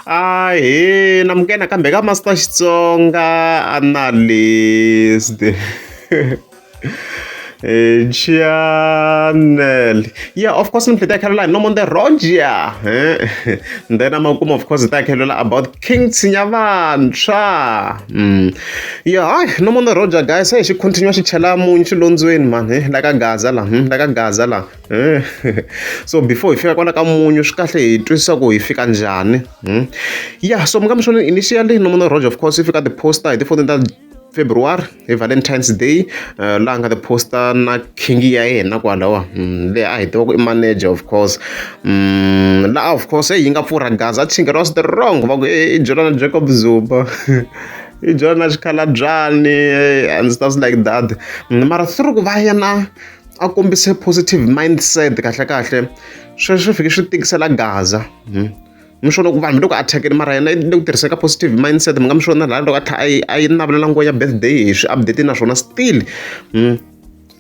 Ahee, namukela nakambe ka Master Xitsonga Analyst. Eh, channel yeah of course mhlete ya caroline no monde roger eh? then amakuma of course ta khelela about king tsinya vantshwa mm. yeah hayi no monde roger guys hey xi continue xi chela munyu xilondzweni mani eh, la ka gaza la hmm? la ka gaza la so before hi fika kwala ka munyu swi kahle hi twisisa ku hi fika njhani hmm? ya so munga mixoneni initially nomona roger of course yi fika ti-poster hi tifoni ta february hi valentine's day uh, laha nga ti-poster na king ya yena kwalawa hmm, leyi a hi tiva ku i manager of course hmm, laha of course yi nga pfurha gaza chinga ra the wrong va ku i jolana jacob zuba i jolana xikhalabyani eh, and stuff like that mara through ku va yena a kombise positive mindset kahlekahle sweswo swi fike swi tikisela gaza hmm. mi swo loko vanhu mi loko a thyakeni mara yena le ku tirhiseka positive mindset mi nga mi swona laha loko a tlhela a yi a yi navelela nguva ya birthday hi swi update naswona still hmm,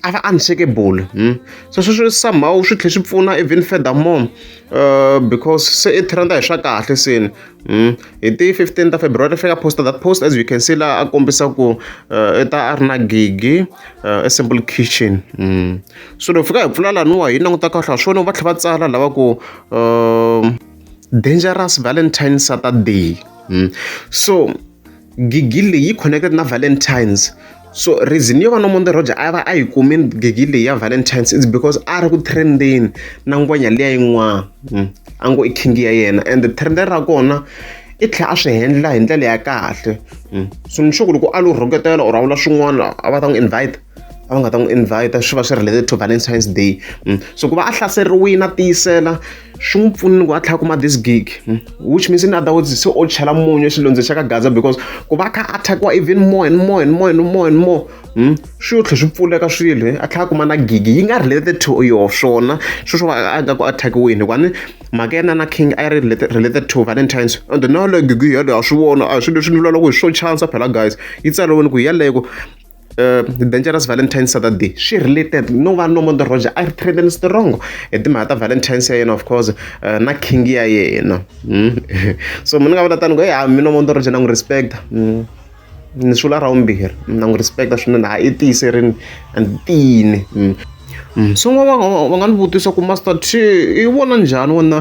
a va unshakable hmm. so sweswo somehow swi tlhela swi pfuna even furthermore uh, because se i trenda hi swa kahle seni Mm. hi ti 15 ta february ri fika poster that post as you can see laha a kombisa ku uh, i ta a ri na gigi uh, a simple kitchen mm. so loko fika hi pfula laniwa hi languta kahle ha swona va tlhela va tsala lava ku uh, dangerous valentine saturday mm. so gigi leyi yi connected na valentines so reason yo va nomonde roger a va a yi kumi gigi leyi ya valentines is because a ri ku trendeni na ngwenya liya yin'wana hmm. a ngo i king ya yena and trend ra kona i tlhela a swi hendla hi ndlela ya kahle hmm. so ni sure ku loko a lo rhoketela or a vula swin'wana a va ta n'wi invite a va nga ta n'wi invite swi va swi related to Valentine's Day so ku va a hlaseriwile a tiyisela swi n'wi pfunile ku a tlhela kuma this gig which means in other words se o chela munyu exilondzweni xa ka gaza because ku va kha a thakiwa even more and more and more and more and more swi yo tlhela swi pfuleka swilo a tlhela a kuma na gig yi nga related to yo swona sweswo va a nga ku a thakiwini hikuva ni mhaka yena na king a yi ri related to valentines and na yaleyo gig yeleyo a swi vona a hi swilo leswi ni vulavulaka hi swo chance phela guys yi tsariwini ku yaleyo Uh, the dangerous valentine saturday swi related no va no mondo roger a ri trendeni strong hi timhaka ta valentines ya yena of course uh, na king ya yena mm. so mi ni nga vula tani ku ya mi no mondo roger na n'wi respecta mm. ni swula ra vumbirhi na n'wi respecta swinene ha i tiyiserini and tiyini mm. Mm. so va va nga ni vutisa ku master t i vona njhani wona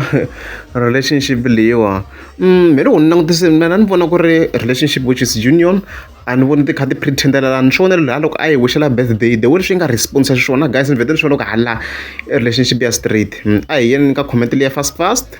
relationship leyiwa mm, mina u ni langutise mina ni vona ku ri relationship which is union A ni voni ti kha ti pretend-elelana ni swi vona la loko a hi wish-ela birthday the way leswi yi nga respond-isa xiswona guys ni vhete ni swi vona loko hala i relationship ya straight a hi yeni ka comment liya fast fast.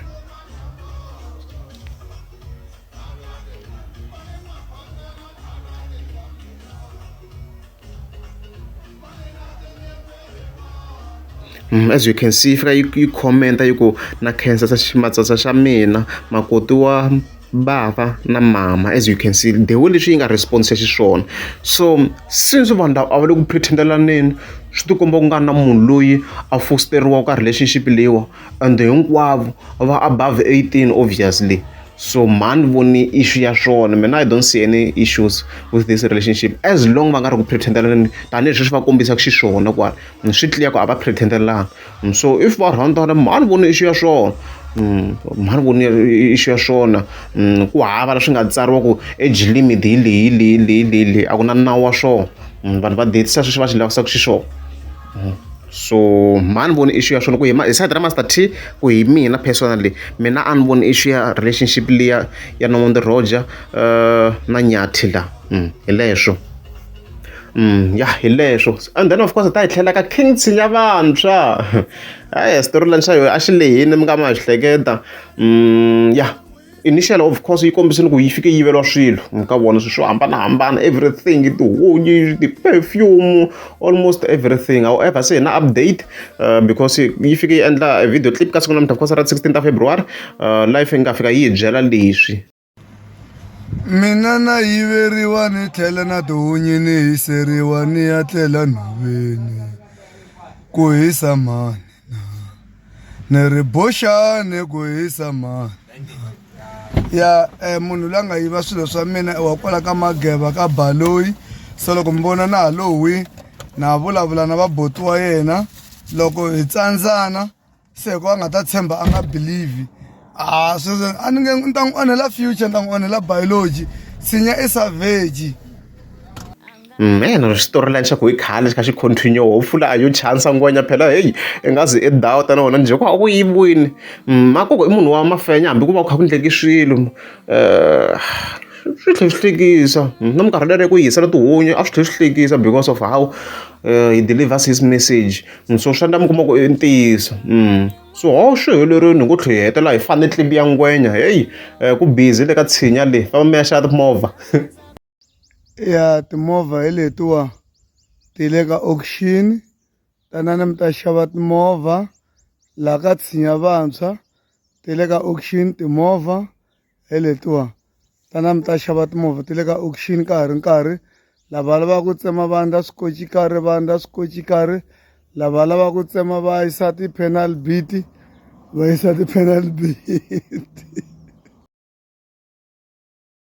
Hmm, as you can see yi fika yi yi comment yi ku na khensa matsatsa xa mina makoti wa bava na mama as you can see the way leswi yi nga response xiswona so since vanhu lava a va le ku pretendelaneni swi tikomba ku nga na munhu loyi a fosteriwaka ka relationship leyiwa and hinkwavo va above eighteen obviously. so mhani voni issue ya swona mina i don't see any issues with this relationship as long va nga ri ku pretendelani tanihi sweswi va kombisaka xiswona kwala mm, swi clear ku a va pretendelani mm, so if va rhandana mhani voni issue ya swona mm, mhani voni issue ya swona ku hava leswi nga tsariwa ku age limit hi leyi leyi leyi leyi leyi a ku na nawu wa swona vanhu va detisa sweswi va swi lavisaka xiswona so mhani voni issue ya swona ku hi hi side ra master t ku hi mina personally mina a ni voni issue ya relationship liya ya nomondo roger uh, na nyathi la mm, hi leswo Mm, ya hi leswo and then of course ta hi tlhela ka king tshinya vantshwa hayi storyline xa yoho a xi lehini mi nga ma hleketa mm, ya yeah. initial of course yi kombisini ku yi fike yi yiveriwa swilo mi ka vona swilo swo hambanahambana everything tihunyi ti-perfume almost everything however se hi na update uh, because yi fike yi endla a video clip ka siku namuntlha because ra 16 ta february uh, life yi nga fika yi hi byela leswi mina na yiveriwa ni tlhela na tihunyi ni hiseriwa ni ya tlela nhoveni ku hisa mani ni ri boxani ku hisa mani ya um munhu loyi a nga yiva swilo swa mina wa kwala ka mageva ka baloyi so loko mi vona na ha lowi na vulavula na vaboti wa yena loko hi tsandzana se hikuva a nga ta tshemba a nga believe Ah, Susan, a ni nge ni ta n'wi onhela future ni ta n'wi onhela biology sinya i savage meno xitori lani xa ku hi khale xi kha xi continue ho pfula a yo chansa ngwenya phela heyi i nga zi i dawu tana wona njhe ku a ku yivini makoko i munhu wa mafenya hambi ku va ku kha ku ndleki swilo um swi tlhe swi hlekisa na minkarhi lere ku yisela tihunyi a swi tlhe swi hlekisa because of how he delivers his message so swa ndla mi kuma ku i ntiyiso . swihoxo hi lerweni hi ku tlhe hi hetelela hi fane tlimbi ya ngwenya heyi um ku busy le ka tshinya leyi famba mi ya xava timovha ya timovha hi letiwa ti le ka auction tanani mi ta xava timovha laha ka tshinya vantshwa ti le ka auction timovha hi letiwa tana mi ta xava timovha ti le ka auction ka ha ri nkarhi lava lavaka ku tsema vandla swikoci karhi vandla swikoci karhi lava lavaka ku tsema va yisa ti-penal beat va yisa ti-penal beat